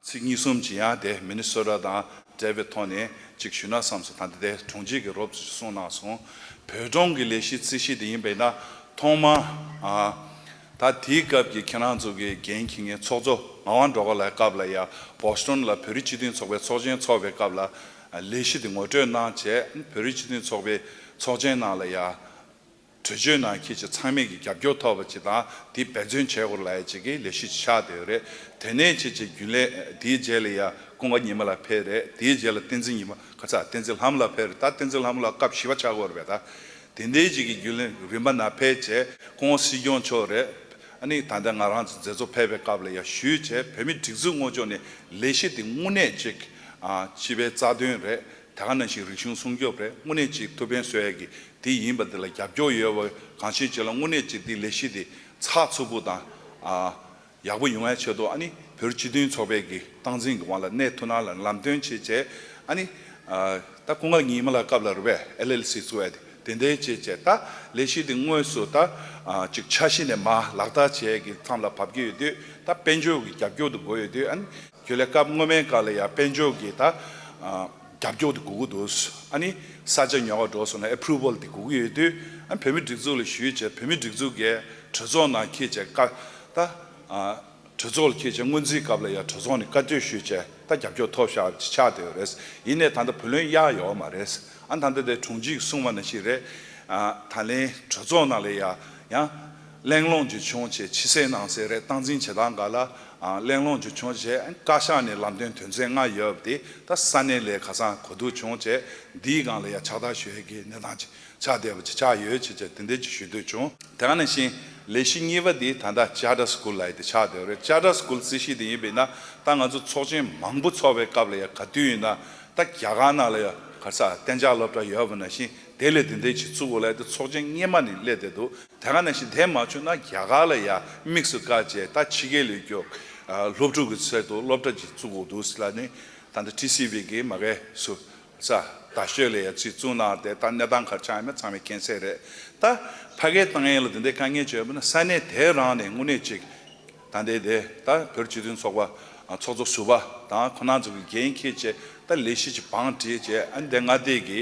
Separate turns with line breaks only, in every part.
ཚིག་གཉིས་གསུམ་ཇི་ཡང་དེ་མི་ནི་སོད་ར་དང་བྲལ་བའི་ཐོག་ནས་ཅིག་ཞུས་ན་བསམ་སོང་ད་འདི་ལྟའི་གྲོང་ཁྱེར་གྱི་རོབ་ཅིག་གསུངས་གནང་སོང། བོད་གྲོང་གི་ལས་གཞི་རྩིས་གཞི་དེ་ཡིན་པས་ན་ཐོག་མ། ད་དེའི་སྐབས་ཀྱི་ཁྱེད་རང་ཚོ་གི་རྒན་ཁྱི་ངའི་ཚོགས་གཙོ་ངག་དབང་འགྲོ་བ་ལའི་སྐབས་ལ་ཡང Boston ལ་བོད་རིགས་སྤྱི་མཐུན་ཚོགས་པའི་ཚོགས་ཆེན་འཚོགས་པའི་སྐབས་ལ་ལས་གཞི་དེ་ངོ་སྤྲོད་གནང་བྱས་བོད་རིགས་སྤྱི་མཐུན་ཚོགས་པའི་ཚོགས་ཆེན་ནང་ལ་ཡང། གྲོས་ཆོད་ནང་ཁྱེད་ཀྱི་ཚང་མས་ཀྱི་རྒྱབ་སྐྱོར་ཐོབ་པ་ཅིག་དང་དེ་འབད་བརྩོན་བྱས་སྐོར་ལ་ཡ་ཅིག་གིས་ལས་ཤུགས་ཅིག་ཆགས་བསྡད་ཡོད་རེད། དེ་ནས་ཁྱེད་ཀྱི་རྒྱུན་ལས་དེའི་རྗེས་ལ་ཡ་ཀུན་དགའ་ཉི་མ་ལགས་ཕེབས་རེད་དེའི་རྗེས་ལ་བསྟན་འཛིན་ཉི་མ་ཁ་ཚ་བསྟན་འཛིན་ལྷ་མོ་ལགས་ཕེབས་རེད་ད་བསྟན་འཛིན་ལྷ་མོ་ལགས་སྐབས་བཞི་བ་ཆགས་སྐོར་རེད་ད། དེ་འདའི་རྗེས་ཀྱི་རྒྱུན་ལས་རིམ་པ་ན་ཕེབས་བྱས་ཀུན་དགའ་སྲིད་སྐྱོང་མཆོག་རེད། ཨ་ནི་ད་ལྟ་ང་རང་ཚོ་མཛད་གཙོ་ཕེབས་པའི་སྐབས་ལ་ཡ་ཞུས་བྱས་བོད་མི་སྒྲིག་འཛུགས་སྔོན་ཆོག་ནས་ལས་གཞི་དེ་དངོས་གནས་ཅིག་སྤྱི་པའི་རྩ་དོན་རེད་དེ་ག་ནང་བཞིན་རིག་གཞུང་སྲུང་སྐྱོབ་རེད་དངོས་གནས་ཅིག་ཐུབ་ཕན་སོས་ཡག་གི་དེ་ཡིན་པ་དེ་ལ་རྒྱབ་སྐྱོར་ཡོད་བ་གང་ཤེས་བྱས་ལ་དངོས་གནས་ཅིག་དེ་ལས་གཞི་དེ་ཚགས་ཚུད་པོ་དང་ཡག་པོ་ཡོང་བའི་ཆེད་དུ་ཨ་ནི་བོད་སྤྱི་མཐུན་ཚོགས་པའི་གི་སྟངས་འཛིན་གི་དབང་ལ་གནས་ཐུ་ན་ལ་ལམ་སྟོན་བྱེད་བྱས་ཨ་ནི་ད་སྐུ་ངག་ཉིན་མ་ལ་སྐབས་ལ་རུ་བས LLC ཚུགས་ཨ་དེ་དེ་འདའི་བྱས་བྱས་ད་ལས་གཞི་དེ་དངོས་སུ་ད་ཅིག་ཆ་ཤེས་ནས་མ་ལག་བསྟར་བྱས་གི་མཚམས་ལ་བབ་ཀྱི་ཡོད་དུས་ད་དཔལ་འབྱོར་གི་རྒྱབ་སྐྱོར་དུ་དགོས་ཡོད་དུས་ཨ་ནི། ཁྱོད་ལས་སྐབས་སྔོན་མའི་བཀའ་ལ་ཡང་དཔལ་འབྱོར་གྱི་ད། རྒྱབ་སྐྱོར་དེ་དགོས་ཀྱི་འདུག་ཨ་ནི། ས་ཆ་ཉོ་བ་འགྲོ་སོང་ལ approval དེ་དགོས་ཀྱི་ཡོད་དུས་ཨ་བོད་མི་སྒྲིག་འཛུགས་ལ་ཞུས་བྱས་བོད་མི་སྒྲིག་འཛུགས་ཀྱི་གྲོས་ཚོགས་ནང་ཁྱེད་ཅག་བཀའ་ད། གྲོས་ཚོགས་ལ་ཁྱེད་ཅག་སྔོན་རྩིས་སྐབས་ལ་ཡང་གྲོས་ཚོགས་ནས་བཀའ་བསྟོད་ཞུས་བྱས་ད་རྒྱབ་སྐྱོར་ཐོབ་ཤག་ཅིག་ཆགས་བསྡད་ཡོད་རེད་ཡིན་ནས་ད་ལྟ་བུ་ལོན་གཡར་ཡོད་བ་མ་རེད་ཨ་ད་ལྟ་དེ་དྲུང་ཆེ་གི་གསུང་བ་ན་ཞིག་རེད། ད་ལན་གྲོས་ཚོགས་ནང་ལ་ཡང། གླེང་སློང་རྒྱུ་བྱུང་རྗེས་ཕྱི་གསལ་ནང་གསལ་རེ་བཏང་འཛིན་བྱེད་སྟངས་འགའ་ལ་གླེང་སློང་རྒྱུ་བྱུང་རྗེས་བཀའ་ཤག་ནས་ལམ་སྟོན་དོན་ཚན་ལྔ་ཡོད་པ་དེ་ད་ས་གནས་ལས་ཁ་སང་གོ་བསྡུར་བྱུང་རྗེས་འདིའི་སྒང་ལ་ཡང་ཕྱག་བསྟར་ཞུ་ཡི་གི་གནས་སྟངས་ཅིག་ཆགས་བསྡད་པ་ཅིག་ཆགས་ཡོད་ཅེས་བཅས་དེ་འདྲའི་ཅིག་ཞུ་འདོད་བྱུང། དེ་ག་ནས་བྱིན་ལས་གཞི་གཉིས་པ་དེ་ད་ལྟ Charter School ལ་ཡི་དེ་ཆགས་བསྡད་པ་རེད Charter School རྩིས་གཞི་དེ་ཡིན་པས་ན་ད་ང་ཚོ་ཚོགས་ཆེན་མང་པོ་ཚོགས་པའི་སྐབས་ལ་ཡང་ག་དུས་ཡིན་ན་ད་རྒྱ་གར་ནང་ལ་ཡང་གར་སར་གཏན་འཇགས་སློབ་གྲྭ་ཡོད་པ་ན་བཞིན། དེ་ལས་དེ་འདྲའི་བྱེད་ཚུལ་གོ་ལ་དེ་ཚོགས་ཆེན་སྙེ་མ་ནས་སླེ་བསྡད་འདུག་དེ་ག་ནས་ཤི་དེ་མ་ཆོད་ན་རྒྱ་གར་ལ་ཡ་དམིགས་སུ་བཀའ་བཅད་ད་ཕྱི་གའི་ལས་རྒྱོ་སློབ་ཕྲུག་གི་ཚད་དུ་སློབ་གྲ་བྱེད་ཚུལ་གོ་འདུག་སི་ལ་ནི་ད་འདི་ཏི་སི་བྷི་གི་མ་གས་སུ་ས་ད་ཤོད་ལས་ཡ་ཚིག་བཙུགས་ནའང་དེ་ད་གནས་སྟངས་གར་ཆགས་ཡ་མེད་ཚང་མའི་མཁྱེན་གསལ་རེད་ད་ཕ་གའི་ཏང་ཡན་ལ་དེ་འདྲའི་དཀའ་ངལ་བྱོས་པ་ན་ས་གནས་དེ་རང་ནས་དངུལ་གནས་བྱེད་ད་ལྟའི་དེ་ལྟ་བུར་སྤྱི་མཐུན་ཚོགས་པ་ཚོགས་གཙོ་ཟུར་པ་དང་ཁོ་ན་ཚོ་གི་འགན་འཁྱེར་བཅས་ཏཱ་ལའི་ཤི་ཆི་བང་བཀྲིས་བཅས་ཨ་འདས་མངའ་སྡེ་གི་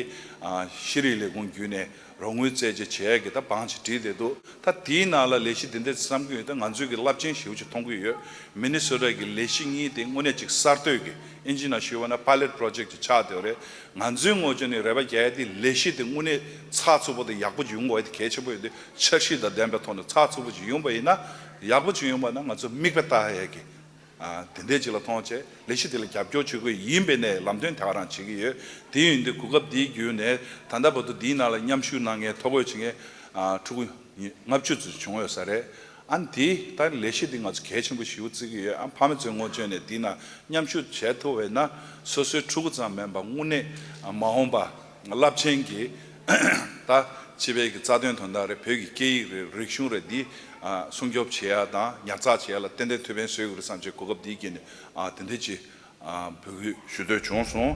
ཤེས་རིག་ལས་ཁུངས་བརྒྱུད་ནས་རོགས་དངུལ་བཙལ་བཅས་བྱས་ཡ་གི་ད་བང་ཆེ་བྲིས་བསྡད་འདུག་ད་དེའི་ནང་ལ་ལས་གཞི་འདི་འདྲའི་བརྩམས་ཀྱི་ཡོད་ད་ང་ཚོས་གི་རླབས་ཆེན་ཞེའུ་ཆེ་མཐོང་གི་ཡོད་མི་ནི་སོ་ཏཱ་གི་ལས་གཞི་གཉིས་དེ་དངོས་གནས་ཅིག་གསར་གཏོད་ཀྱི་ཨིན་ཇི་ན་ཤི་བ་ན Pilot Project ཅིག་ཆགས་དེ་བ་རེད་ང་ཚོའི་ངོ་ཅོ་ནི་རེ་བ་རྒྱལ་ཡ་དེ་ལས་གཞི་དེ་དངོས་གནས་ཚགས་ཚུད་པོ་དང་ཡག་པོ་ཅིག་ཡོང་དགོས་ཡ་དེ་གལ་ཆེན་པོ་ཡོད་དེ་འཆར་གཞི་དང་ལྡན་པའི་ཐོག་ནས་ཚགས་ཚུད་པོ་ཅིག་ཡོང་པ་ཡིན་ན། ཡག་པོ་བྱུང་ཡོང་པ་ན་ང་ཚོས་མིག་དཔེ་ལྟ་ཧ་ཡག་གི། དེ་འད་ཅིག་ལ་མཐོང་ཆེད་ལས་གཞི་དེ་ལ་རྒྱབ་སྐྱོར་བྱེད་དགོས་ཡིན་པའི་ནས་ལམ་སྟོན་དེ་ག་རང་བྱེད་ཀྱི་ཡོད་དེ་ཡིན་དུས་གོ་སྐབས་འདིའི་བརྒྱུད་ནས་ད་ལྟ་བར་དུ་འདིའི་ནང་ལ་མཉམ་ཞུགས་གནང་མཁན་ཐོ་འགོད་བྱེད་མཁན་ཕྲུ་གུ་ལྔ་བཅུ་ཙུ་བྱུང་ཡོད་ས་རེད། ཨ་འདི་ལྟར་ལས་གཞི་འདི་ང་ཚོ་གལ་ཆེན་པོ་ཞིག་བརྩི་གི་ཡོད་ཨ་ཕ་མེས་ཚོས་སྔོན་བྱོན་ནས་འདི་ན་མཉམ་ཞུགས་བྱེད་ཐུབ་བས་ན་སོ་སོའི་ཕྲུ་གུ་ཙམ་མིན་པར་དངོས་གནས་མ་འོངས་པ། རླབས་ཆེན་གྱིས་ད་ཕྱི་བལ་གྱི་རྩ་དོན་དོན་དག་རེད་བོད་ཀྱི་སྐད་ཡིག་རེད་རིག་གཞུང་རེད་འདི་སྲུང་སྐྱོབ་བྱེད་ཡ་དང་ཉར་ཚགས་བྱེད་ཡ་ལ་ཏན་ཏན་ཐུགས་ཕན་སོས་གི་རེད་བསམ་ཆེད་གོ་སྐབས་འདི་སྐྱེས་ནས་དེ་འད་ཅི་འབོད་སྐུལ་ཞུ་འདོད་བྱུང་སོང།